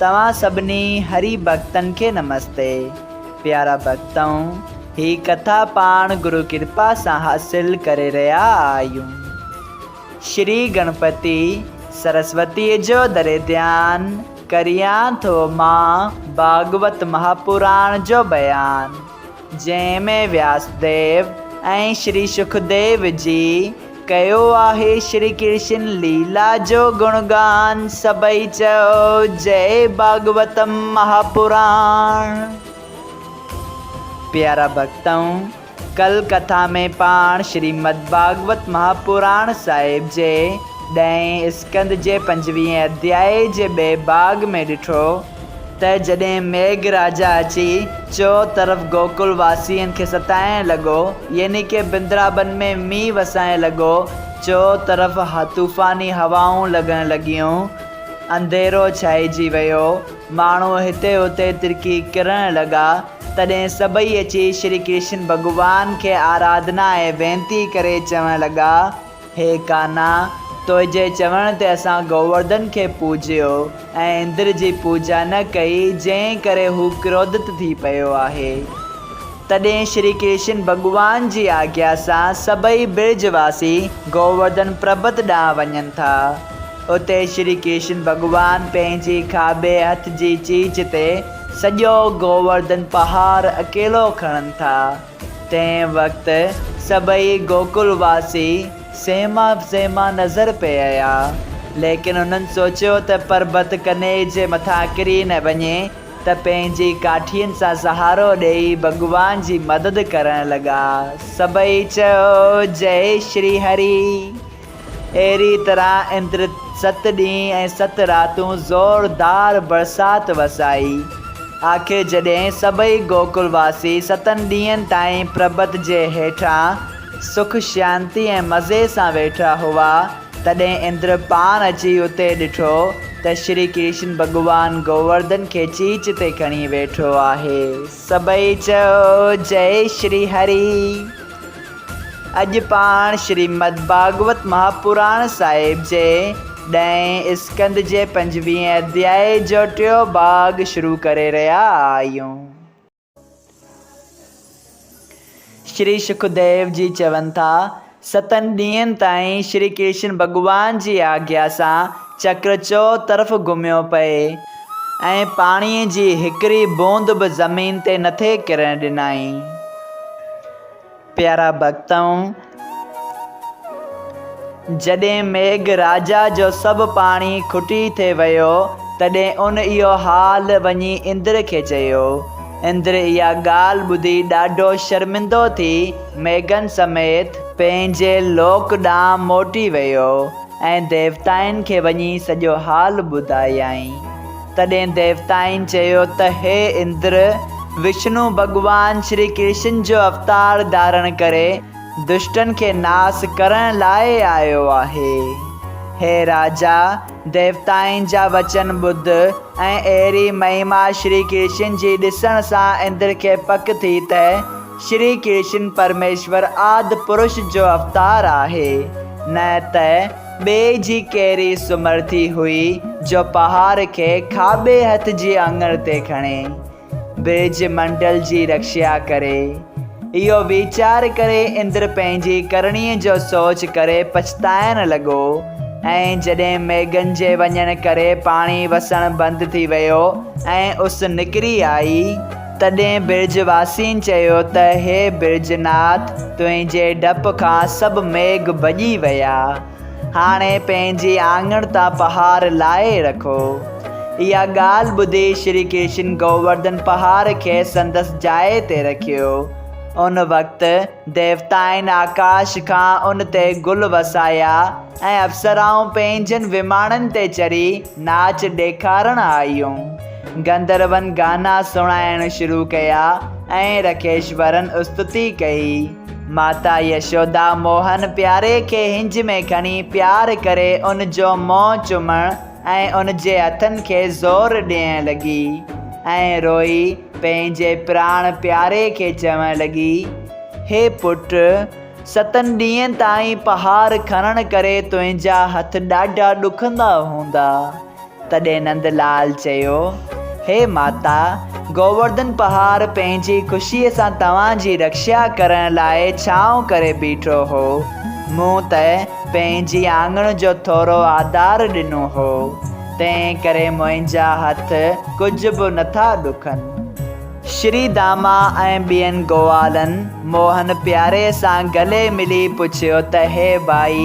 توهان سڀني هري ڀڳتن کي نمستي. پيارا ڀڳتؤ، هي ڪٿا پاڻ گرو ڪرپا سان حاصل ڪري رهيا آهيون. شري گڻپتي سرسوتيء جو دري ڌيان ڪريان ٿو مان ڀاڳوت مهاپراڻ جو بيان، جنهن ۾ وياس ديو ۽ شري سکديو جي ڪيو آهي شري ڪرشن ليلا جو گڻ گان سڀئي چئو جئي ڀاڳوتم مها پراڻ. پيارا ڀڳتؤن! ڪل ڪٿا ۾ پاڻ شريمد ڀاڳوت مها پراڻ صاحب جي ڏهين اسڪند جي پنجويهين اڌيائي جي ٻئي ڀاڳ ۾ ڏٺو، ته جڏهن ميگھ راجا اچي چؤ طرف گوڪل واسين کي ستائڻ لڳو، يعني ڪي بندرابن ۾ مينهن وسائڻ لڳو، چؤ طرف طوفاني هوائون لڳڻ لڳيون، انڌيرو ڇائجي ويو، ماڻهو هتي هتي ترڪي ڪرڻ لڳا، تڏهن سڀئي اچي شري ڪرشن ڀڳوان کي آراڌنا ۽ وينتي ڪري چوڻ لڳا، هي ڪانا! تنهنجي چوڻ تي اسان گوورڌن کي پوڄيو ۽ اندر جي پوڄا نه ڪئي، جنهن ڪري هو ڪروڌت ٿي پيو آهي. تڏهن شري ڪرشن ڀڳوان جي آجيا سان سڀئي برج واسي گوورڌن پربت ڏانهن وڃن ٿا. اتي شري ڪرشن ڀڳوان پنهنجي کاٻي هٿ جي چيچ تي سڄو گوورڌن پهاڙ اڪيلو کڻن ٿا. تنهن وقت سڀئي گوڪل واسي سهما سهما نظر پيا. ليڪن هنن سوچيو ته پربت ڪني جي مٿان ڪري نه وڃي ته پنهنجي ڪاٺين سان سهارو ڏيئي ڀڳوان جي مدد ڪرڻ لڳا. سڀئي چيو جئي شري هري. اهڙيء طرح اندر ست ڏينهن ۽ ست راتون زوردار برسات وسائي. آخر جڏهن سڀئي گوڪل واسي ستن ڏينهن تائين پربت جي هيٺان سک شانتي ۽ مزي سان ويٺا هئا، تڏهن اندر پاڻ اچي اتي ڏٺو ته شري ڪرشن ڀڳوان گوورڌن کي چيچ تي کڻي ويٺو آهي. سڀئي چيو، جئي شري هري! اڄ پاڻ شريمد ڀاڳوت مهاپراڻ صاحب جي ڏهين اسڪند جي پنجويهين اڌياء جو ٽيون ڀاڳ شروع ڪري رهيا آهيون. شري سکديو جي چون ٿا، ستن ڏينهن تائين شري ڪرشن ڀڳوان جي آگيا سان چڪر چؤ طرف گهميو پئي. ۽ پاڻيء جي هڪڙي بوند به زمين تي نٿي ڪرڻ ڏنائين. پيارا ڀڳتؤن! جڏهن ميگھ راجا جو سڀ پاڻي کٽي ٿي ويو، تڏهن ان اهو حال وڃي اندر کي چيو. اندر اها ڳالهه ٻڌي ڏاڍو شرمندو ٿي ميگھن سميت پنهنجي لوڪ ڏانهن موٽي ويو. ۽ ديوتائن کي وڃي سڄو حال ٻڌايائين. تڏهن ديوتائن چيو ته هي اندر، وشنو ڀڳوان شري ڪرشن جو اوتار ڌارڻ ڪري دشٽن کي ناس ڪرڻ لاء آيو آهي. هي راجا، ديوتائن جا وچن ٻڌ ۽ اهڙي مهما شري ڪرشن جي ڏسڻ سان اندر کي پڪ ٿي ته، شري ڪرشن پرميشور آد پرش جو اوتار آهي، نه ته ٻئي جي ڪهڙي سمرٿي هئي جو پهاڙ کي کاٻي هٿ جي اڱڻ تي کڻي، برج منڊل جي رڪشا ڪري. اهو ويچار ڪري اندر پنهنجي ڪرڻي جو سوچ ڪري پڇتائڻ لڳو ۽ جڏهن ميگهن جي وڃڻ ڪري پاڻي وسڻ بند ٿي ويو ۽ اس نڪري آئي، تڏهن برج واسين چيو ته هي برج ناٿ تنهنجي ڊپ کان سڀ ميگهه ڀڄي ويا. هاڻي پنهنجي آڱڻ تان پهار لاهي رکو. اها ڳالهه ٻڌي شري ڪرشن گوورڌن پهار کي سندس جاء تي رکيو. ان وقت ديوتائن آڪاش کان ان تي گل وسايا ۽ اپسرائون پنهنجن وماڻن تي چڙهي ناچ ڏيکارڻ آيون. گندروئن گانا سڻائڻ شروع ڪيا ۽ رڪيشورن استتي ڪئي. ماتا يشودا موهن پياري کي هنج ۾ کڻي پيار ڪري ان جو منهن چمڻ ۽ ان جي هٿن کي زور ڏيڻ لڳي ۽ روئي پنهنجي پراڻ پياري کي چوڻ لڳي، هي پٽ، ستن ڏينهن تائين پهار کڻڻ ڪري تنهنجا هٿ ڏاڍا ڏکندا هوندا. تڏهن نند لال چيو، هي ماتا، گوورڌن پهاڙ پنهنجي خوشيء سان توهان جي رڪشا ڪرڻ لاء ڇانو ڪري بيٺو هو. مون ته پنهنجي آڱڻ جو ٿورو آڌار ڏنو هو، تنهنڪري منهنجا هٿ ڪجهه به نٿا ڏکن. شري داما ۽ ٻين گوالن موهن پياري سان گلي ملي پڇيو ته هي ڀائي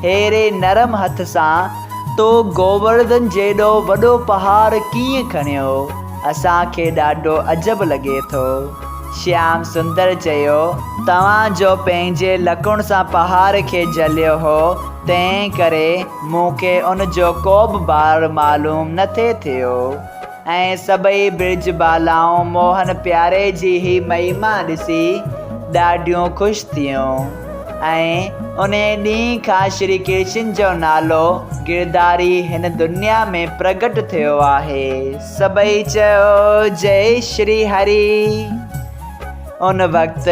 هيري نرم هٿ سان تو گوورڌن جيڏو وڏو پهاڙ ڪيئن کڻيو؟ اسان کي ڏاڍو عجب لڳي ٿو. شيام سندر چيو، توهان جو پنهنجي لڪڻ سان پهاڙ کي جهليو هو، تنهن ڪري مون کي ان جو ڪوبه بار معلوم نٿي ٿيو. ۽ سڀئي برج بالائون موهن پياري جي هي مهيما ڏسي ڏاڍيون خوش ٿيون ۽ انهي ڏينهن کان شري ڪرشن جو نالو گرڌاري هن دنيا ۾ پرگٽ ٿيو آهي. سڀئي چئو جئي شري هري. ان وقت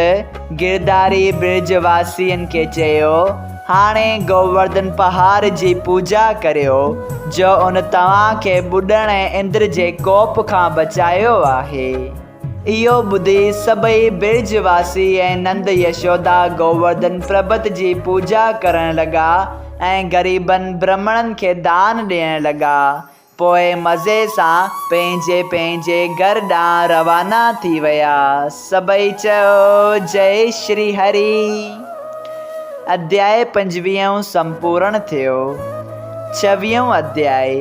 گرداري برج واسين کي چيو، هاڻي گوورڌن پهاڙ جي پوڄا ڪريو، جو ان توهان کي ٻڏڻ ۽ اندر جي ڪوپ کان بچايو آهي. اهو ٻڌي سڀئي برج واسي ۽ نند يشودا گوورڌن پربت جي پوڄا ڪرڻ لڳا ۽ غريبن برهمڻن کي دان ڏيڻ لڳا، پوء مزي سان پنهنجي پنهنجي گهر ڏانهن روانا ٿي ويا. سڀئي چيو جئي شري هري. اڌيائي پنجويهون سمپورڻ ٿيو. ڇويهون اڌيائي،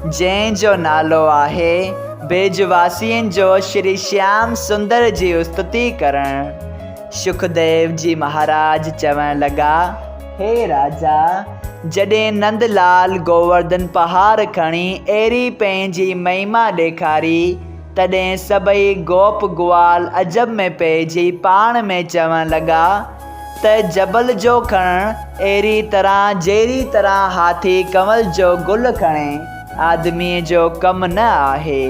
جنهن جو نالو آهي، ڀيڄ واسين جو شري شيام سندر جي استتي ڪرڻ. شڪديو جي مهاراج چوڻ لڳا. هي راجا! جڏهن نند لال گوورڌن پهاڙ کڻي اهڙي پنهنجي مهما ڏيکاري، تڏهن سڀئي گوپ گوال عجب ۾ پئجي پاڻ ۾ چوڻ لڳا ته جبل جو کڻڻ اهڙي طرح جهڙي طرح هاٿي ڪنول جو گل کڻي، آدميء جو ڪم نه آهي.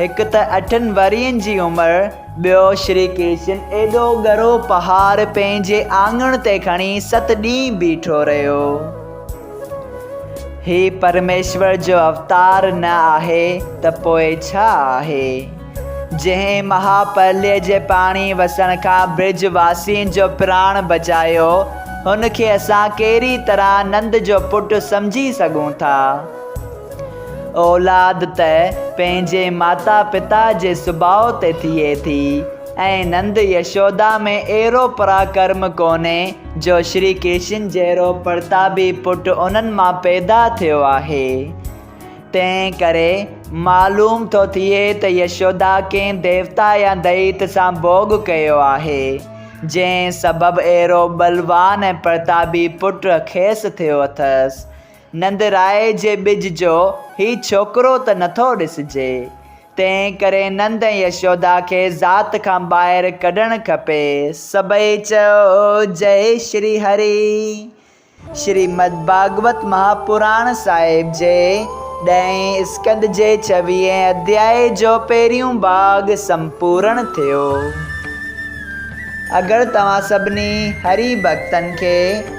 هڪ ته اٺن ورهين جي عمر، ٻيو شري ڪرشن ايڏو ڳرو پهار پنهنجي آڱڻ تي کڻي ست ڏينهن بيٺو رهيو. هي پرميشور جو اوتار نه آهي ته پوء ڇا آهي؟ جنهن مها پرليه جي پاڻي وسڻ کان برج واسين جو پراڻ بچايو، هن کي اسان ڪهڙي طرح نند جو پٽ سمجهي سگهون ٿا؟ اولاد ته پنهنجي ماتا پتا جي سڀاء تي ٿئي ٿي ۽ نند يشودا ۾ اهڙو پراڪرم ڪونهي جو شري ڪرشن جهڙو پرتابي پٽ انهن مان پيدا ٿيو آهي. تنهن ڪري معلوم ٿو ٿئي ته يشودا ڪنهن ديوتا يا دئيت سان ڀوڳ ڪيو آهي، جنهن سبب اهڙو ٻلوان ۽ پرتابي پٽ کيس ٿيو اٿس. نندرائي جي ٻج جو هي ڇوڪرو ته نٿو ڏسجي، تنهن ڪري نند ۽ يشودا کي ذات کان ٻاهر ڪڍڻ کپي. سڀئي چئو، جئي شري هري. شريمد ڀاڳوت مهاپراڻ صاحب جي ڏهين اسڪند جي ڇويهين اڌياء جو پهريون ڀاڳ سمپورڻ ٿيو. اگر توهان سڀني هري ڀڳتن کي